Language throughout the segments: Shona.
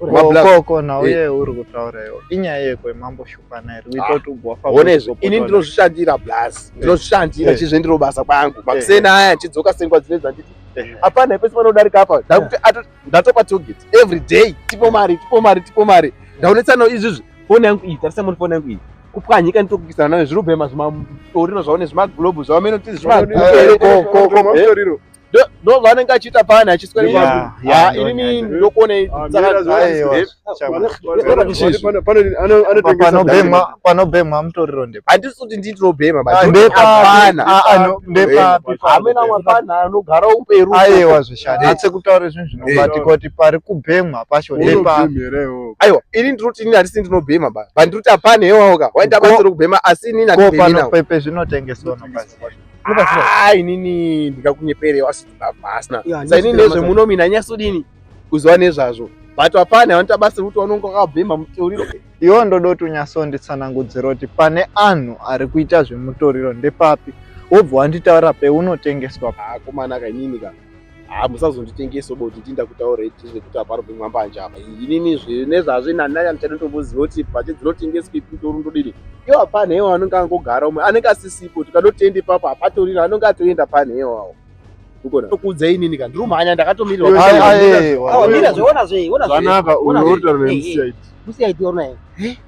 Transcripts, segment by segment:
ukoko nauye eh. uri kutaura iwo inyaya yekwe mambo shupana here kuita ah. kuti ugwafa ini ndinozvishandira blas eh. ndinozvishandira eh. chizve ndiro basa kwangu makuseni aya ndichidzoka sengwa dzine dzanditi hapana hepesi panodarika apa ndakuti ndatopa toget every day tipo mari tipo mari tipo mari ndaonetsana izvizvi foni yangu iyi tarisa moni foni yangu iyi kupwanyika nitokukisana nayo zvirubhema zvimatorino zvaone zvimaglobu zvavamenotizi zvimatoriro ndo vanenge achiita pani achiswera ah, inini ndokuonei panobhemwa mutoriro ndepa handisi kuti ndii tinobhema amena mapana anogara uperu aiwa zvishani atse kutaura zvinhu zvinobatika kuti pari kubhemwa pacho ndepa aiwa ini ndinoti inini handisi ndinobhema ba bandiroti hapana hewaoka waita basa rekubhema asi inini hatipepe zvinotengeswa Ah, inini ndikakunyepere wasiti baba asina sa inini nezve muno mina nyasodini kuziva nezvazvo but hapana vanoita basa rekuti vanonga vakabhema mutoriro iwo ndoda kuti unyatsonditsanangudzira kuti pane anhu ari kuita zvemutoriro ndepapi wobva wanditaura peunotengeswa akomanaka ah, inini kana haa musazonditengesa uba kuti tinda kutaura iti zvekuti hapano pemwambanje apa inini zvine zvazve nanaya ndichanotomboziva kuti bhachi dzinotengeswa ipi mutoro ndodini iyo hapana hewa anenge angogara umwe anenge asisipo tikanotenda ipapo hapatorira anenge atoenda pana hewawo kuudza inini ka ndirumhanya ndakatomirirwaanaka unotaura nemusiyaiti musiyaiti onaye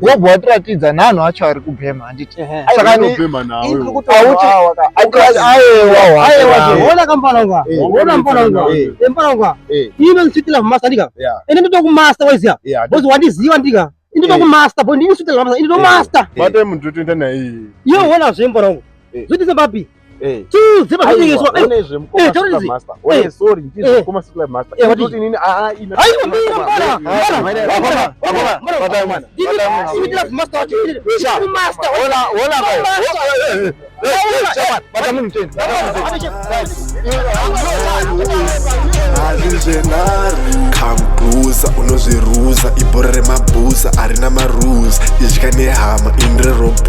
Gogo watiratidza nhanhu acho ari kubhema handiti? Saka ni Unobhema nawe. Iri kuti Auti- wawa ka. auti ayewa Ayewa wacho. ke. Ona kampana ngwa. Eh, Ona mpana mpana ngwa. eh. Eh, mpana ngwa. Eh. Ino nsitila master ndika. Yeah. Ende ndito ku master waziya. Yeah. Bozi wandiziwa ndika. Ndito Eh. ku master boy ndini nsitila master. Ndito Eh. master. Bata munhu totoenda naye. Yo ona zve mpana ngwa. Eh. Zvotiza papi? Eh. kambuza unozviruza ibhora remabhuza arina marules idya nehama inrerobo